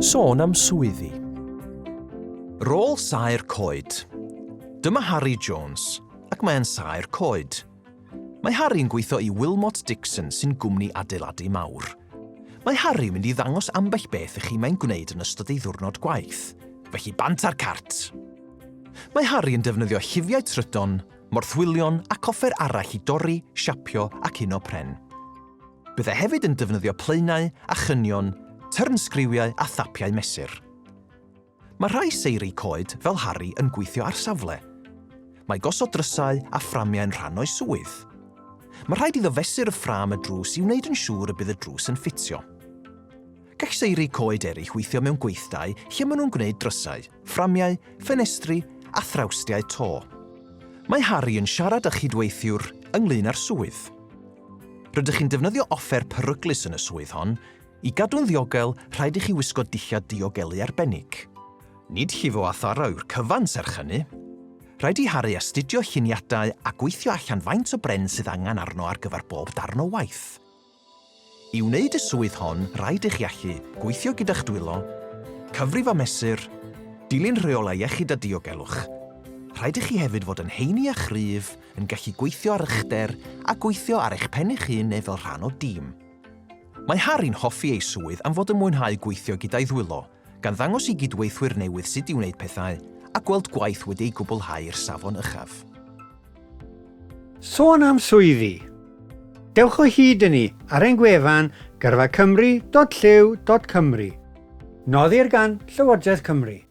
Sôn am swyddi. Rôl saer coed. Dyma Harri Jones, ac mae'n saer coed. Mae Harri'n gweithio i Wilmot Dixon sy'n gwmni adeiladu mawr. Mae Harri'n mynd i ddangos ambell beth i chi mae'n gwneud yn ystod ei ddiwrnod gwaith, felly bant ar cart! Mae Harri yn defnyddio llifiau trydan morthwylion ac offer arall i dorri, siapio ac uno pren. Byddai hefyd yn defnyddio plaenau a chynion, tyrnsgriwiau a thapiau mesur. Mae rhai seiri coed fel Harry yn gweithio ar safle. Mae gosod drysau a fframiau yn rhan o'i swydd. Mae rhaid iddo fesur y ffram y drws i wneud yn siŵr y bydd y drws yn ffitio. Gall seiri coed eraill weithio mewn gweithdai lle maen nhw'n gwneud drysau, fframiau, ffenestri a thrawstiau to. Mae Harry yn siarad â chydweithiwr ynglŷn â'r swydd. Rydych chi'n defnyddio offer peryglus yn y swydd hon, i gadw'n ddiogel rhaid i chi wisgo dillad diogelu arbennig. Nid llifo a tharo yw'r cyfan serch hynny. Rhaid i Harry astudio lluniadau a gweithio allan faint o bren sydd angen arno ar gyfer bob darn o waith. I wneud y swydd hon, rhaid i chi allu gweithio gyda'ch dwylo, cyfrif a mesur, dilyn rheolau iechyd a diogelwch. Rhaid i chi hefyd fod yn heini a chryf, yn gallu gweithio ar uchder a gweithio ar eich pen eich hun neu fel rhan o dîm. Mae Harry'n hoffi ei swydd am fod yn mwynhau gweithio gyda'i ddwylo, gan ddangos i gydweithwyr newydd sut i wneud pethau a gweld gwaith wedi ei gwblhau i'r safon uchaf. Sôn am swyddi. Dewch o hyd i ni ar ein gwefan gyrfacymru.llyw.cymru. Noddir gan Llywodraeth Cymru.